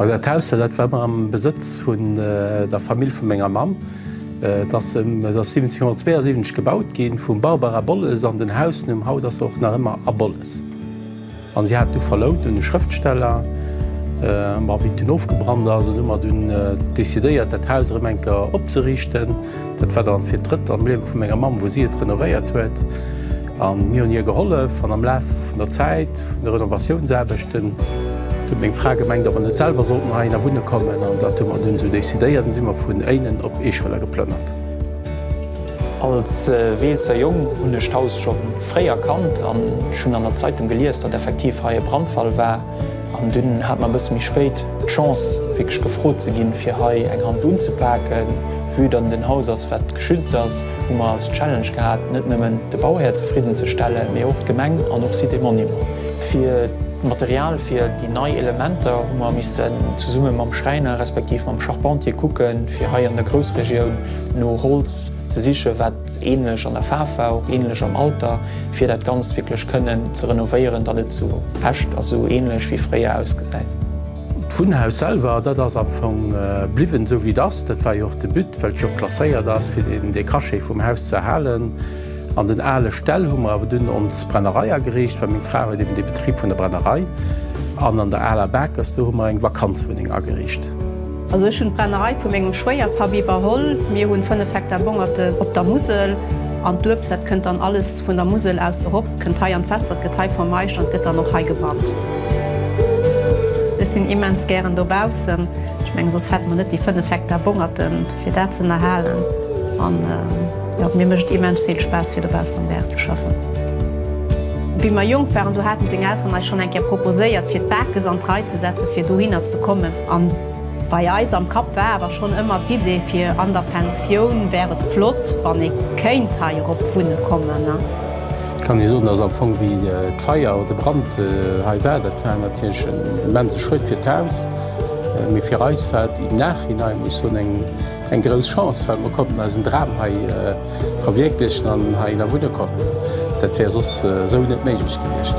Well dat Haus hei, dat war ëmmer am Besëtz vun der Famill vu menger Mamm. Et ass ëm 1772 gebaut gi vum Barber A. Bolles an den Hausnumm haut ass och nach ëmmer A. Bolles. An si hat du verlount un e Schrëftsteller, ma wéi et dunn ofgebrannt ass, hunn ëmmer dunn decidéiert, dat Haus erëm eng Kéier opzeriichten. Dat war dann fir d'drëtt am Liewe vu menger Mamm, wou si et renovéiert huet. A mir hunn hir gehollef. An am Laf vun der Zäit vun de Renovatiounsaarbechten huet meng Fra gemengt, ob mer net selwer sollten heihinner wunne kommen. An dat hu mer dunn esou decidéiert an si mer vun Éinen op Eeschwëller geplënnert. Als Weelzer Jong hunn ech d'Haus scho fréi erkannt an ech hunn an der Zeitung gelies, datt effektiv hei e Brandfall war. An dunn hat mer e bësse méi spéit d'Chance, wierklech gefrot ze ginn, fir hei eng Hand unzepaken. Vue dann den Haus ass, wat geschützt ass, hu mer als Challenge gehat, net nëmmen de Bauhär zefridden ze stellen, mee och d'Gemeng an och Sites et Monuments. Fir d'Material fir déi nei Elementer hu mer missen zesumme mam Schräiner respektiv mam Charpentier kucken, fir hei an der Groussregioun no Holz, Ze sichen wat ähnlech an der Faarf war, och ähnlech am Alter, fir dat ganzt wierklech kënnen ze renovéieren, datt et sou echt a sou ähnlech wéi fréier ausgesäit. D'Wunnhaus selwer, dat ass am Fong bliwwen esou wéi et ass. Dat war jo och de But, well et jo och klasséiert ass, fir den de Cachet vum Haus ze erhalen. An den ale Ställ hu mer awer dunn ons Brennerei ageriicht, well meng Fra huet eben de Betrib vun der Brennerei. An an der aler Bakers, do hu mer eng Vakanzwunneng ageriicht. Also ech hunn d'Brennerei vu mengem Schwéierpapp iwwerholl. Mir hunn 5 Hektar Bongerten op der Musel an d'Uebst, dat kënnt dann alles vun der Musel aus erop, kënnt hei an d'Fässer, et gëtt hei vermeischt an et gëtt dann och hei gebrannt. Ech sinn immens gären dobaussen, ech mengen soss hätte mer net déi 5 Hektar Bongerten fir dat z'ënnerhalen an jo, mir mécht et immens vill Spaass fir dobaussen am Gaart ze schaffen. Wéi mer jonk waren, do haten seng Elteren eis schonn eng Kéier proposéiert fir d'Bakes an d'Rei ze setzen fir dohinner ze kommen. An bei eis am Kapp war awer schonn ëmmer d'Idee fir an der Pensioun wär et flott, wann ee kéint hei erop wunne kommen. Kann ee soen, dass am Fong wéi d'Feier oder de Brand hei war, dat war natierlech en immense Schued fir d'Haus, mee fir eis war et im Nachhinein, muss ech soen, eng. Eng grouss Chance, well mer konnten eisen Dram hei verwierklechen an hei ënner wunne kommen. Dat wär soss esou net méiglech gewiescht.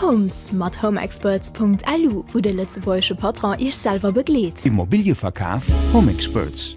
Homes mat homeexperts.lu, wou de lëtzebuergesche Patron Iech selwer begleet. Immobilië verkaf? Homexperts.